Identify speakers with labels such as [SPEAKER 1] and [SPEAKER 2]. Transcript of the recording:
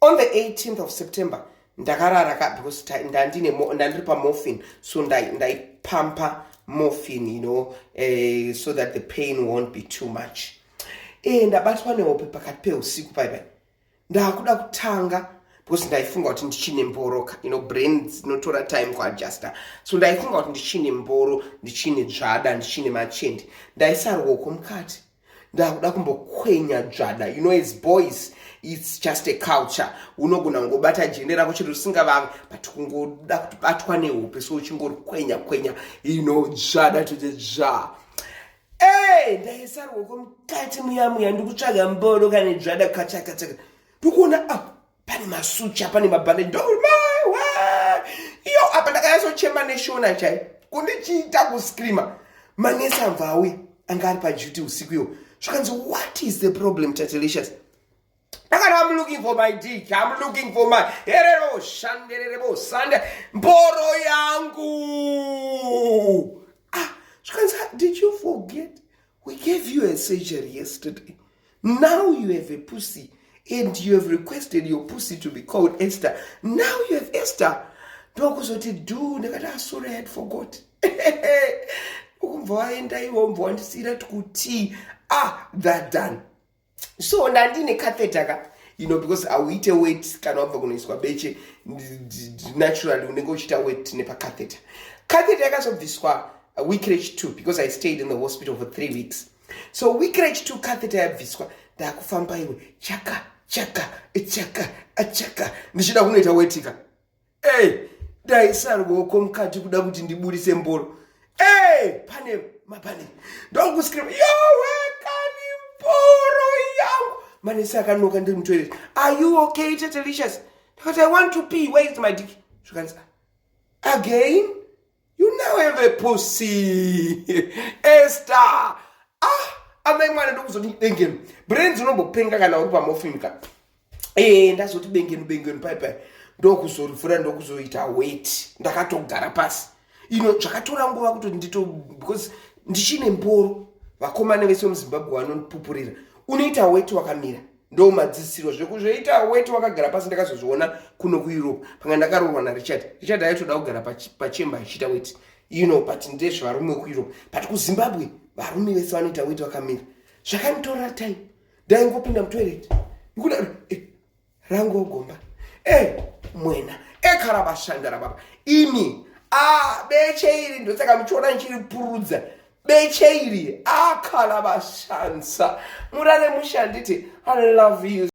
[SPEAKER 1] on the 18th of september ndakarara ka because ndandiri pamorphin so ndaipampa ndai morphin you know uh, so that the pain won't be too much e ndabatwa nehope pakati peusiku pai pai ndakuda kutanga because ndaifunga kuti ndichine mboro ka you know brain dzinotora time kuadjusta so ndaifunga kuti ndichine mboro ndichine dzvada ndichine machende ndaisarwoko mukati ndakuda kumbokwenya dzvada you know as boys its just a culture unogona kungobata jende rako chero risingavavi but kungoda kuti batwa nehope so uchingorikwenya kwenya you know dzvada toti dzva e ndaisarwoko mukati muya muya ndikutsvaga mbodo kane dzvada kachakachaka ndikuona a ah, pane masucha pane mabhandeji ndomaiwa iyo apa ndakayasochema neshona chai kundichiita kuscreama manesi amva auya anga ari paduty usiku iyo zvakanzi what is the problem tatelicious akati am looking for my dick am looking for my herero shandererebo sande mboro yangu ah zvakanzi did you forget We gave you a surgery yesterday. Now you have a pussy and you have requested your pussy to be called Esther. Now you have Esther. ndokuzoti du ndakati asore ah, had forgot ukumva waenda iwo mbwa wandisiira tikuti ah that done so ndandine catheta ka you know because auite wet kana wabva kunoiswa beche naturally unenge uchiita wet nepacatheta catheta yakazobviswa weekrech two because i stayed in the hospital for three weeks so weekrech two catheta yabviswa ndakufamba iwe chaka chaka chaka chaka ndichida kunoita wetika hey, ndaisa ruoko mukati kuda kuti ndiburise mboro hey, pane mapane ndokuskira yowekani mboro yangu manesi akanoka ndiri mutoilet are you okay tetelicious ndikati i want to pee where is my dick zvikanzi again You now have a pussy. Esther. Ah, amai mwana ndokuzoti bengenu. Brains unombopenga kana uri pamofini ka. Eh, ndazoti bengenu bengenu pai pai. Ndokuzorivhura ndokuzoita wait. Ndakatogara pasi. Ino zvakatora nguva kuti ndito because ndichine mboro. Vakomana vese muZimbabwe vanondipupurira. Unoita wait wakamira. ndo madzisiro zvekuzoita weti wakagara pasi ndakazozviona kuno kueurope panga ndakaroorwa narichard richard aitoda kugara pachemba achiita weti you know but ndezvevarume wekueurope but kuzimbabwe varume vese vanoita weti vakamira zvakanditorera time ndaingopinda mutoilet ikuda eh, rangu ogomba e eh, mwena ekarabashandara eh, baba ini a ah, beche iri ndosaka muchiona ndichiripurudza beche iri akhala vashandisa murare mushanditi i love you